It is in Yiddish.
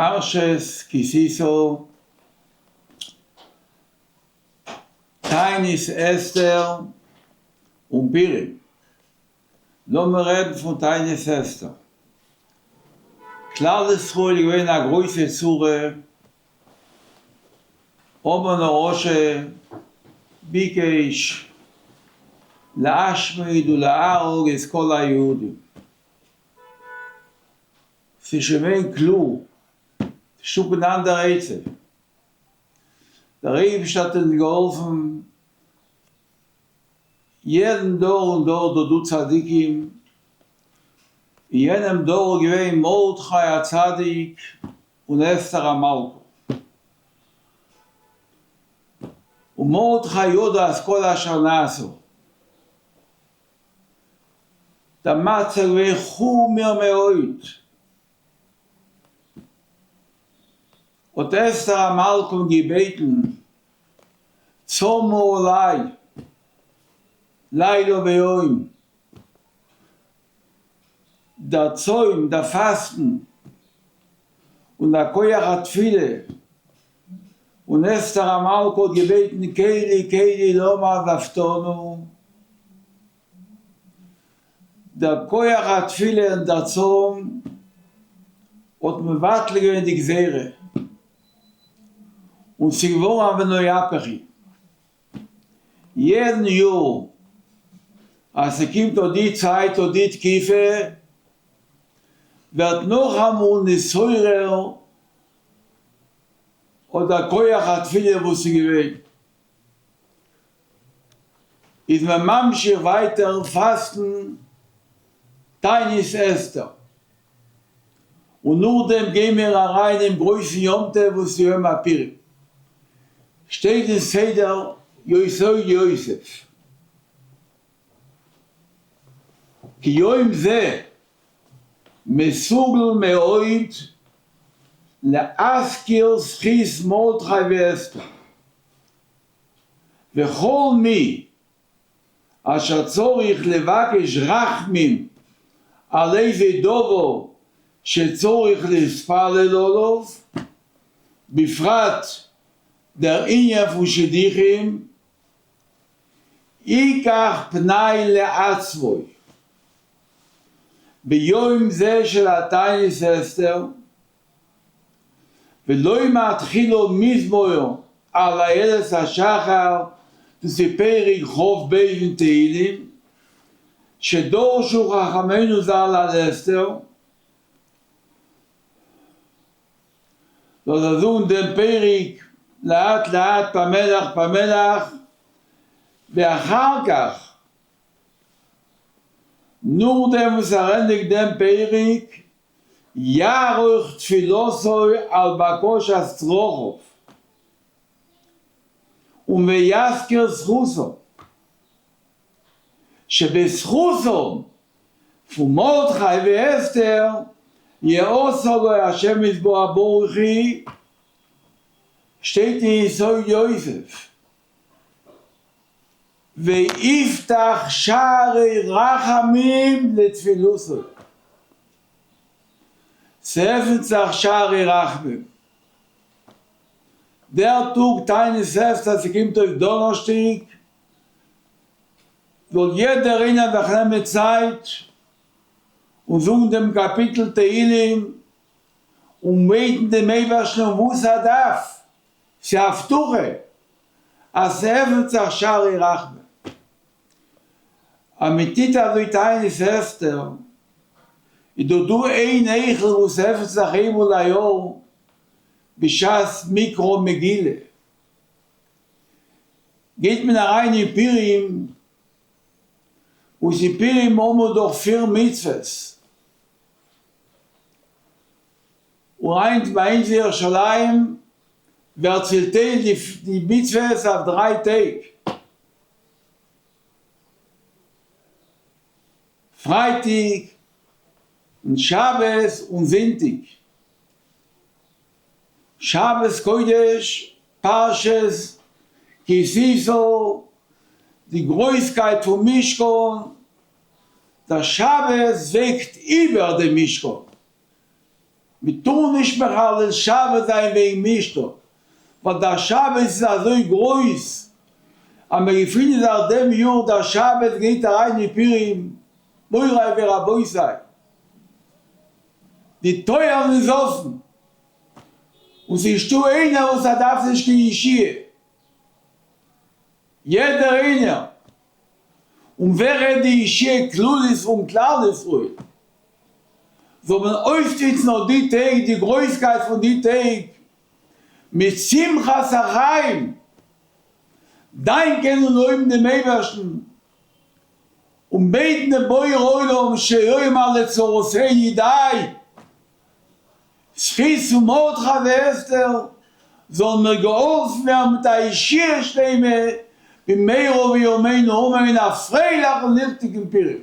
פרשת כי תשא, תענית אסתר און פורים. לאמיר רעדן פון תענית אסתר. כלל ישראל איז געווען אין א גרויסע צרה, המן הרשע ביקש להשמיד ולהרוג את כל היהודים. ס'איז שוין געווען קלאר, נישט אפ און דאון דער עצב. דער אייבערשטער האט אונז געהאלפן, יעדן דור און דור דארט דא צדיקים, אין יענעם דור איז געווען מרדכי א צדיק און אסתר א מלכה. און מרדכי ידע את כל אשר נעשה. דער מצב איז געווען חמור מאוד. האט אסתר המלכה געבעטן צמאה עליי לילה ויום, דער צוים, דער פאסטן, און דער כח התפילה און אסתר המלכה האט געבעטן כלי כלי למה עזבתנו, דער כח התפילה און דער צום האט מבטל געווען די גזירה, און ס'איז געווארן א ונוהפכי, יעדן יאר אז ס'קומט אט די צייט אט די תקופה ווערט נאכאמאל נתעורר, האט דער כח התפילה וואס איז געווען, איז מען ממשיך ווייטער פאסטן תענית אסתר, און נאכדעם גיי מיר אריין אין גרויסן יום טוב וואס איז יום הפורים, שטייט אין סדר יסוד יוסף, כיום זה מסוגל מאוד להזכיר זכות מרדכי ואסתר וכל מי אשר צריך לבקש רחמים על איזה דבר שצריך להתפלל עליו, בפרט דער ענין פון שידוכים. איקח פני לעצמי, ביום זה של התענית אסתר, ולא מתחילה מזמור על איילת השחר, דאס איז פרק ח ב אין תהלים, שדרשו חכמינו ז ל על אסתר, זאל זיי זאגן דעם פרק לאט לאט פאמעלעך פאמעלעך ואחר כך נאכדעם וואס ער ענדיגט דעם פרק יערוך תפילתו על בקשת צרכיו און ויזכיר זכותו שבזכותם פון מרדכי ואסתר יעשה לו השם יתברך ברוך היא שטייט אין יסוד יוסף ויפתח שערי רחמים לתפילתו ס'עפנט זיך שערי רחמים דער טאג תענית אסתר ס'קומט אויס דאנערשטאג זאל יעדער איינער זיך נעמען צייט און זאגן דעם קאפיטל תהילים און בעטן דעם אייבערשטן און וואס ער דארף, ס'איז א הבטחה אז ס'עפנט זיך שערי רחמים, אז מען טוט אזוי טייען איז הערסטער, איז דאך דא איין היכל וואס עפנט זיך איינמאל א יאר בשעת מקרא מגילה. גייט מען אריין אין פורים, וואס אין פורים האט מען דאך פיר מצוות, און היינט ביי אונז אין ירושלים ווערט צעטיילט די מצוות אויף דריי טעג, פרייטאג און שבת און זונטאג. שבת קודש, פרשת כי תשא, די גרויסקייט פון משכן, דער שבת וועגט איבער דעם משכן, מען טאר נישט מחלל שבת זיין וועגן משכן, ווייל דער שבת איז אזוי גרויס, אז מען געפינט זיך דעם יאר דער שבת גייט אריין אין פורים, מוריי ורבותיי. די טויערן איז אפן און ס'איז דא איינער וואס ער דארף נישט קיין ישועה, יעדער איינער, און ווער רעדט די ישועה כללית פון כלל ישראל, זאל מען אויסנוצן אט די טעג, די גרויסקייט פון די טעג, מיט שמחת החיים, דאנקען און לויבן דעם אייבערשטן און בעטן דעם בורא עולם שיהיה מלא צרות ה' ידי, זכות פון מרדכי ואסתר זאלן מיר געהאלפן ווערן מיט א ישועה שלימה במהרה בימינו אמן, א פרייליכן ליכטיגן פורים.